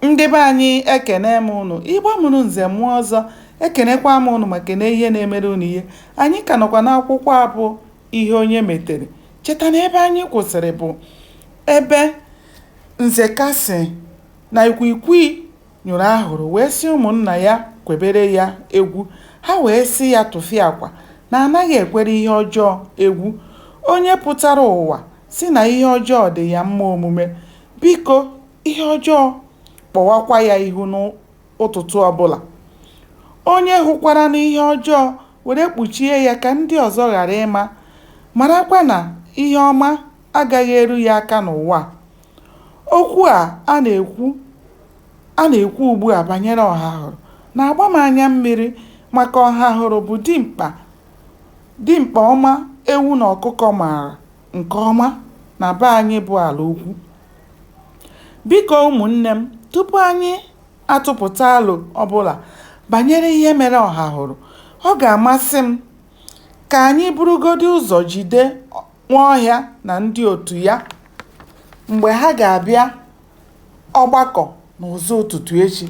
ndị be anyị ekene m ụnụ igbo mụrụ nze mụọ ọzọ ekenekwa m ụnụ ma kene ihe na-emere ụnụ ihe anyị ka nọkwa n'akwụkwọ a bụ ihe onye metere cheta na ebe anyị kwụsịrị bụ ebe nzeka sị na ikwikwii nyụrụ ahụrụ wee sị ụmụnna ya kwebere ya egwu ha wee sị ya tụfịakwa na anaghị ekwere ihe ọjọọ egwu onye pụtara ụwa sị na ihe ọjọọ dị ya mma omume Biko, ihe ọjọọ, kpọwakwa ya ihu n'ụtụtụ ọbụla. Onye hụkwaranụ ihe ọjọọ were kpuchie ya ka ndị ọzọ ghara ịma, marakwa na ihe ọma agaghị eru ya aka n'ụwa a. Okwu a a na-ekwu ugbu a banyere Ọhahụrụ na-agba m anya mmiri maka Ọhahụrụ bụ dimkpa ọma ewu na ọkụkọ maara. nke ọma na be anyị bụ ala ukwu. Biko ụmụnne m, tupu anyị atụpụta alo ọbụla banyere ihe mere Ọhahụrụ, ọ ga-amasị m ka anyị burugodị ụzọ jide Nwaọhịa na ndị otu ya mgbe ha ga-abịa ọgbakọ n'ụzọ ụtụtụ echi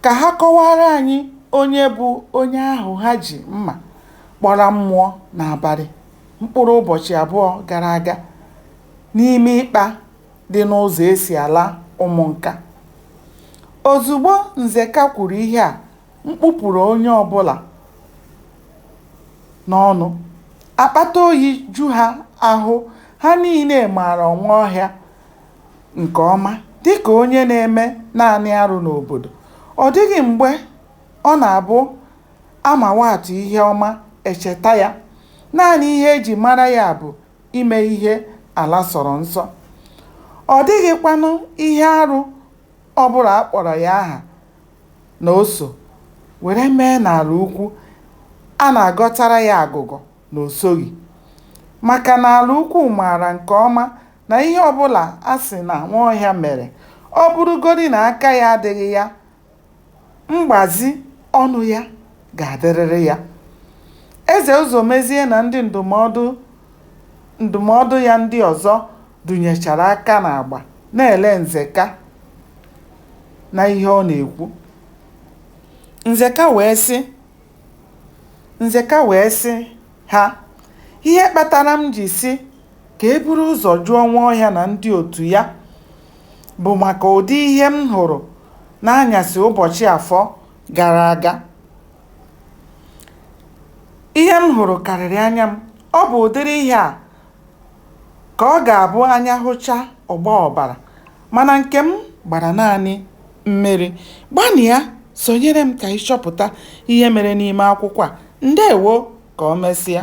ka ha kọwaara anyị onye bụ onye ahụ ha ji mma kpọrọ mmụọ n'abalị. mkpụrụ ụbọchị abụọ gara aga n'ime ikpa dị n'ụzọ e si ala Ụmụnka. Ozugbo Nzeka kwuru ihe a, mkpu pụrụ onye ọbụla n'ọnụ. Akpata oyi ju ha ahụ, ha niile maara Nwaọhịa nke ọma dịka onye na-eme naanị arụ n'obodo. Ọ dịghị mgbe ọ na-abụ A ma nwatụ ihe ọma, e cheta ya. Naanị ihe e ji mara ya bụ ime ihe ala sọrọ nsọ. Ọ dịghịkwanụ ihe arụ ọ bụla a kpọrọ ya aha na o so were mee n'ala ukwu a na-agọtara ya agụgọ na o soghị. Maka na ala ukwu maara nke ọma na ihe ọ bụla a sị na Nwaọhịa mere, ọ bụrụgodi na aka ya adịghị ya Mgbazi ọnụ ya ga-adịrịrị ya. Eze Ụzọmezie na ndị ndụmọdụ ya ndị ọzọ dụnyechara aka n'agba na-ele Nzeka na ihe ọ na-ekwu. Nzeka, Nzeka wee sị ha, Ihe kpatara m ji sị ka e buru ụzọ jụọ Nwaọhịa na ndị otu ya bụ maka ụdị ihe m hụrụ n'anyasị ụbọchị Afọ gara aga. Ihe m hụrụ karịrị anya m. Ọ bụ ụdịrị ihe a ka ọ ga-abụ anya hụchaa, ọ gbaa ọbara. Mana nke m gbara naanị mmiri. Gbanịa sonyere m ka ị chọpụta ihe mere n'ime akwụkwọ a. Ndewo! Ka o mesịa.